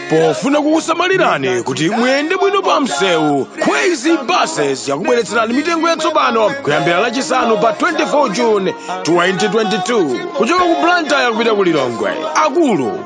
pofuna kukusamalirani kuti muyende bwino pa msewu kwezy buses yakubweretserani mitengo yatsopano kuyambira lachisanu pa 24 june 2022 kuchoka ku blantyre kupita ku lilongwe akulu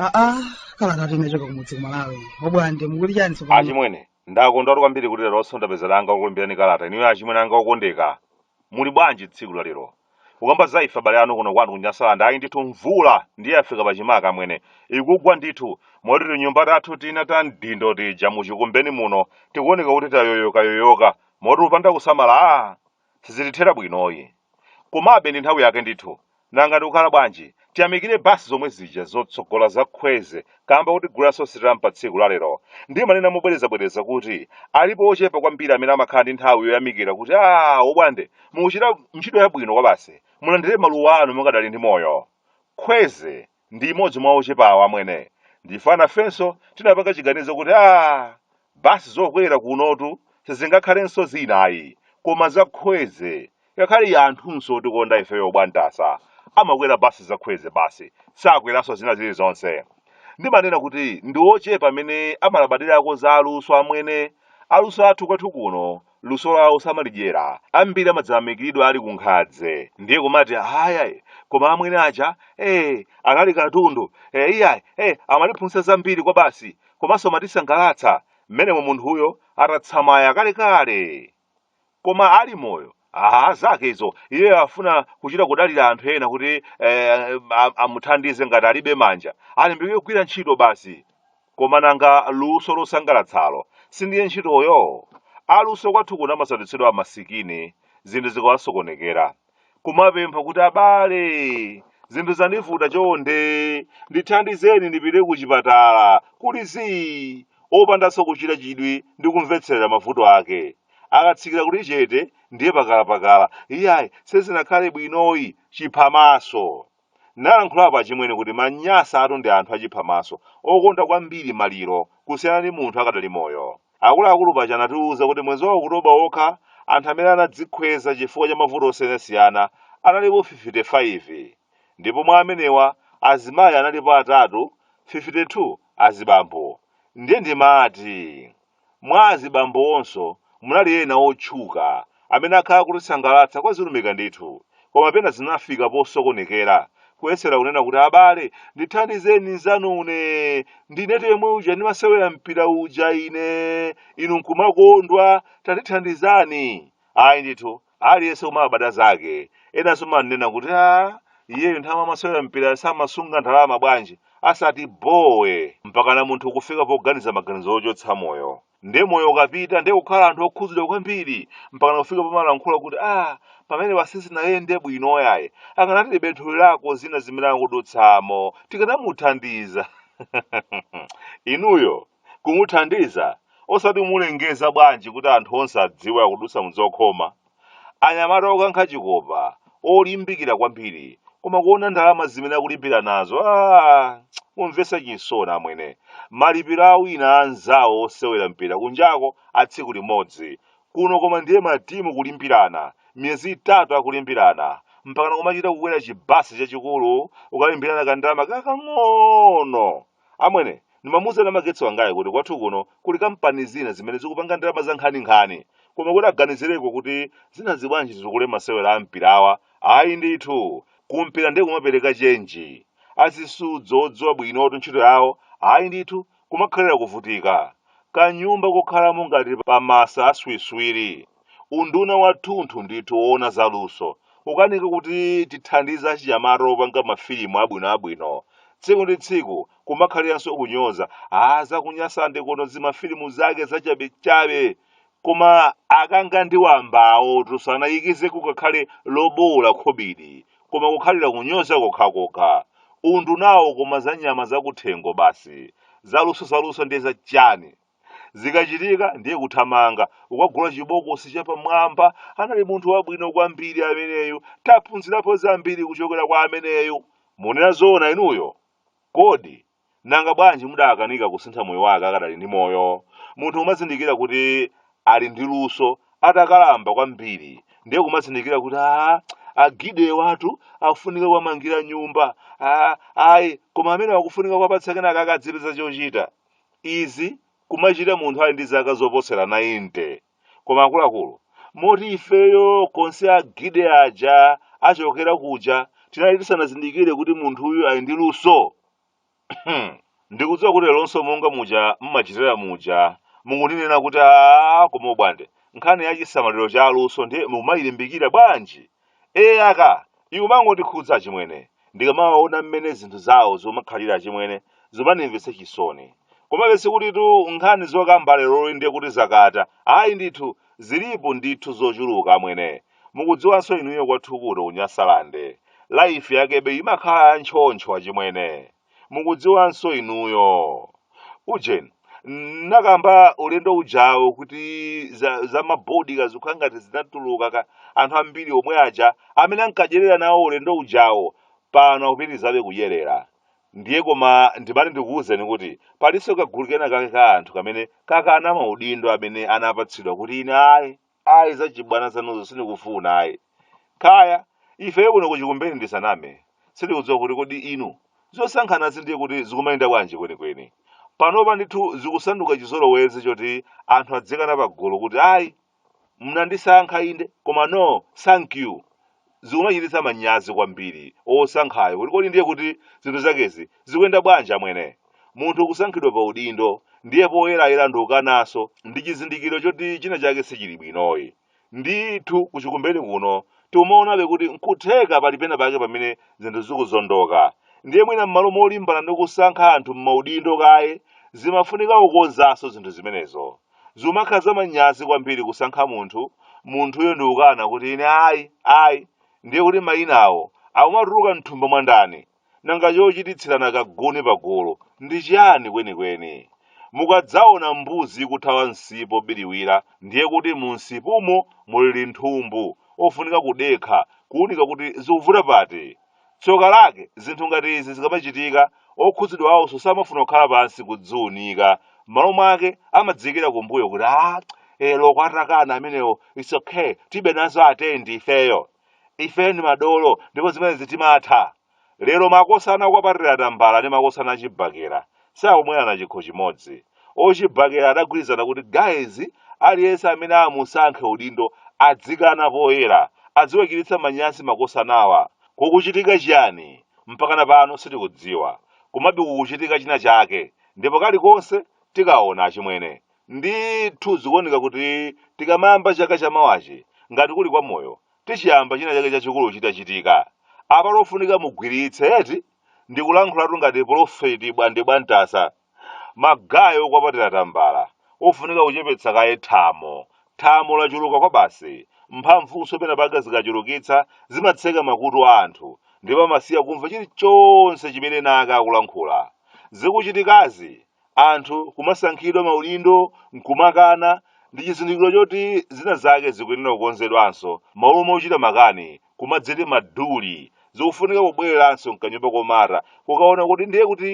aa kalatatu inachoka kumudzi kumalawi obwande mukuti chani tsopano achimwene Ndakondwatu kwambiri kuti leronso ndapeza danga lokulemberani kalata inuyo achimwene anga okondeka. Muli bwanji tsiku la lero? Kukamba za ife abale anu kuno kwanu ku Nyasaland, ayi ndithu mvula ndiye yafika pachimake amwene. Ikugwa ndithu, moti tinyumba tathu tina ta mdindo tija mu Chikumbeni muno tikuoneka kuti tayoyokayoyoka, moti upanda kusamala aa! Sizitithera bwinoyi. Komabe ndi nthawi yake ndithu. Nanga ndikukhala bwanji? Tiyamikire basi zomwe zija zotsogola za Khweze kaamba kotiguliranso sitampa tsiku la lero. Ndimanena mobwerezabwereza kuti alipo ochepa kwambiri amene amakhala ndi nthawi yoyamikira kuti aah Obwande mukuchita ntchito yabwino kwabasi. Mulandire maluwa anu mukadali ndi moyo. Khweze. ndi imodzi mwa ochepa awa amwene ndife anafenso tinapanga chiganizo kuti a basi zokwera kunotu sizingakhalenso zinayi koma zakhweze ngakhale anthunso otikonda ifeyo bwantasa amakwera basi zakhweze basi sakweranso zina zilizonse ndimanena kuti ndi ochepa amene amalabadirako za aluso amwene aluso athu kwathu kuno luso lawo samalidyera ambiri amadzayamikiridwa ali kunkhadze ndiye kumati ayayi koma amwene aja eh anali katundu eh iyayi eh amatiphunzitsa zambiri kwabasi komanso amatisangalatsa mmenemo munthuyo atatsamaya kalekale koma ali moyo aha zake izo iye afuna kuchita kudalira anthu ena kuti eh, am- amuthandize ngati alibe manja alimbike kugwira ntchito basi Koma nanga luso losangalatsalo sindiye ntchitoyo? Aluso kwathu kuno amasandutsidwa amasikini zinthu zikawasokonekera, kumapempha kuti abale, zinthu zandivuta chonde ndithandizeni ndipite kuchipatala kuli zii, opandanso kuchita chidwi ndi kumvetserera mavuto ake. Akatsikira kuli chete ndiye pakalapakala, iyayi sizinakhale bwinoyi, chiphamaso. Nalankhulapo achimwene kuti manyasatu ndi anthu achiphamaso, okonda kwambiri maliro kusiyana ndi munthu akadali moyo. Akuluakulu paja anatiuza kuti mwezi wa October wokha anthu amene anadzikhweza chifukwa cha mavuto osiyanasiyana analipo 55 ndipo mwa amenewa azimayi analipo atatu 52 azibambo ndiye ndimati Mwa azibambo onso munali ena otchuka amene akhala kutisangalatsa kwa zilumika ndithu, koma pena zinafika posokonekera, kuyesera kunena kuti abale, ndithandizeni nzanune, ndinetu yemwe uja ndimasewera mpira uja ine, inu nkumakondwa, tandithandizani. Ayi ndithu, aliyense kumabada zake enanso manena kuti a iyeyo nthawi amasewera mpira samasunga ndalama bwanji asati bowe mpakana munthu kufika poganiza maganizo ochotsa moyo nde moyo ukapita nde kukhala anthu okhudzidwa kwambiri mpakana kufika pomalankhula kuti a pamene pasisinayende bwino yayi akanati libethuli lako zina zimene akudutsamo tikanamuthandiza inuyo kumuthandiza osati mulengeza bwanji kuti anthu onse adziwe akudutsa mzokhoma anyamata okankha chikopa olimbikira kwambiri koma kuona ndalama zimene akulimbira nazo ah, kumvesa chisoni amwene malipiro a ena anzawo osewera mpira kunjako a tsiku limodzi kuno koma ndiye matimu kulimbirana miyezi itatu akulimbirana mpakana kumachita kukwera chibasi chachikulu ukalimbirana kandalama kakang'ono Amwene, ndimamuuza namagetsi wangayi kuti kwathu kuno kuli kampani zina zimene zikupanga ndalama za nkhaninkhani. Koma kuti aganizireko kuti zinazi bwanji zikule masewera a mpirawa, ayi ndithu. Kumpira nde kumapereka chenji. Azisudzo odziwa bwinotu ntchito yawo, ayi ndithu, kumakhalira kuvutika. Kanyumba kokhalamo ngati pamasa a swiswiri. Unduna wathunthu ndithu woona za luso ukanika kuti tithandize achinyamata opanga mafilimu abwinoabwino. Tsiku ndi tsiku kumakhaliranso kunyoza, ah zakunyasande kuno zimafilimu zake zachabechabe. Koma akanga ndi wambawotu sanayikizeko ngakhale lobowola khobidi, koma kukhalira kunyoza kokhakokha. Undunawo koma za nyama zakuthengo basi. Zaluso zaluso ndiye za chani? zikachitika ndiye kuthamanga ukagula chibokosi chapamwamba anali munthu wabwino kwambiri ameneyu taphunzirapo zambiri kuchokera kwa ameneyu munena zoona inuyo kodi nanga bwanji mudakanika kusintha moyo wake akadali ndi moyo munthu umazindikira kuti ali ndi luso atakalamba kwambiri ndiye kumazindikira kuti a agide awatu akufunika kuwamangira nyumba a ayi koma amene akufunika kuwapatsa kenaka akadzipeza chochita Izi kumachita munthu ali ndi zaka zoposera 90. Koma akuluakulu, moti ifeyo konse a Gide aja achokera kuja tinali tisanazindikire kuti munthuyu ali ndi luso? Ndikudziwa kuti leronso monga muja mmachitira muja mukundinena kuti aa koma ubwande nkhani ya chisamaliro cha aluso ndiye mukumayilimbikira bwanji? ee aka ikumangotikhudza achimwene ndikamawaona mmene zinthu zawo zomakhalira achimwene zomanimvetsa chisoni komabe sikutitu nkhani zokamba leroli ndiye kuti zakata ayi ndithu zilipo ndithu zochuluka amwene mukudziwanso inuyo kwathukuto kunyasalande laifi yakebe imakhala ya ntchontcho achimwene mukudziwanso inuyo ujeni nakamba ulendo ujawo kuti za mabodi kazikhala ngati zinatuluka ka anthu ambiri omwe aja amene ankadyerera nawo ulendo ujawo pano akupitirizabe kudyerera ndiye koma ndimati ndikuwuzeni kuti palinso kagulu kena kake ka anthu kamene kakana maudindo amene anapatsidwa kuti ine ayi ayi zachibwana zanuzo sindikufuna ayi kaya ifeyo kuno kuchikumbeni ndisaname sindikudziwa kuti kodi inu zosankhanazi ndiye kuti zikumayenda bwanji kwenikweni panopa ndithu zikusanduka chizolowezi choti anthu adzikana pagulu kuti ayi mnandisankha inde koma no thank you zikumachititsa manyazi kwambiri osankhayo kuti kodi ndiye kuti zinthu zakezi zikuyenda bwanji amwene munthu kusankhidwa pa udindo ndiye poyerayera ndikukananso ndi chizindikiro choti china chake sichili bwinoyi ndithu kuchikumbeni kuno timaonabe kuti nkutheka pali pena pake pamene zinthu zikuzondoka ndiye mwina m'malo molimbana ndi kusankha anthu m'maudindo kaye zimafunika kukonzanso zinthu zimenezo Zimakha zamanyazi kwambiri kusankha munthu, munthuyo ndikukana kuti ine ayi, ayi, ndiye kuti mayinawo akumatuluka mthumba mwa ndani? Nanga chochititsirana kaguni pagulu ndi chiyani kwenikweni? Mukadzaona mbuzi ikuthawa msipu obiriwira, ndiye kuti mumsipumo muli linthumbu, ofunika kudekha, kuunika kuti zikuvuta pati. Tsoka lake, zinthu ngati izi zikamachitika, okhudzidwawonso samafuna kukhala pansi kudziunika. M'malo mwake, amadziikira kumbuyo kuti, Aa, eh, loko atakana amenewo, it's okay, tibe nazo atani ndi ifeyo. Ifeyo ndi madolo, ndipo zimenezi timatha. Lero makosana okwapatira tambala ndi makosana achibakera. sakumwerana chikho chimodzi. Ochibakera adagwirizana kuti guys aliyense amene amusankhe udindo adzikana poyera adziwachititsa manyazi makosanawa. Kukuchitika chiyani? Mpakana pano sitikudziwa. Komabe kukuchitika china chake ndipo kalikonse tikaona achimwene. Ndithu zikuoneka kuti tikamayamba chaka chamawachi ngati kuli kwa moyo tichiyamba china chake chachikulu chitachitika. Apa ofunika mugwiritse eti? ndikulankhulatu ngati pulofeti bwande bwantasa magaye okwapatira tambala ofunika kuchepetsa kaye thamo thamo lachuluka kwabasi mphamvunso pena pake zikachulukitsa zimatseka makutu a anthu ndipo amasiya kumva chilichonse chimene ena ake akulankhula zikuchitikazi Anthu kumasankhidwa maudindo n'kumakana ndi chizindikiro choti zina zake zikuyenera kukonzedwanso. M'malo mochita makani, kumadziti madolo, zikufunika kubwereranso m'kanyumba komata kukaona kuti ndiye kuti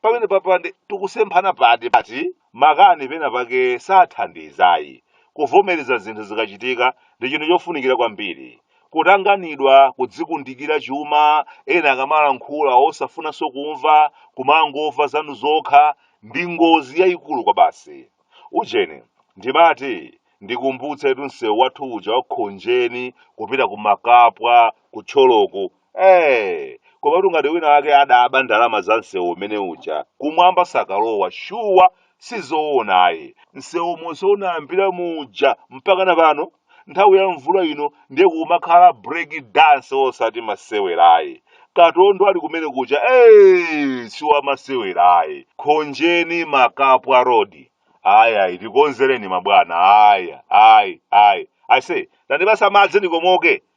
pamenepapa nde tikusemphana pati pati. Makani pena pake sathandiza ayi. Kuvomereza zinthu zikachitika ndi chinthu chofunikira kwambiri. kutanganidwa kudzikundikira chuma ena akamalankhula osafunanso kumva kumangomva zanu zokha ndi ngozi yayikulu kwabasi ujeni ndimati ndikumbutse tu msewu wathu uja wakhonjeni kupita kumakapwa ku Thyoloku ee koma tu ngati wina wake adaba ndalama za msewu umene uja kumwamba sakalowa shuwa sizoonayi msewu momwe unayambira muja mpaka na pano nthawi ya mvula ino ndiye kumakhala break dance osati masewerayi katondo ali kumene kuja ee siwa masewerayi khonjeni makapwa road ayi ayi tikonzereni mabwana ayi ayi ayi ase tandipasa madzi ndikomoke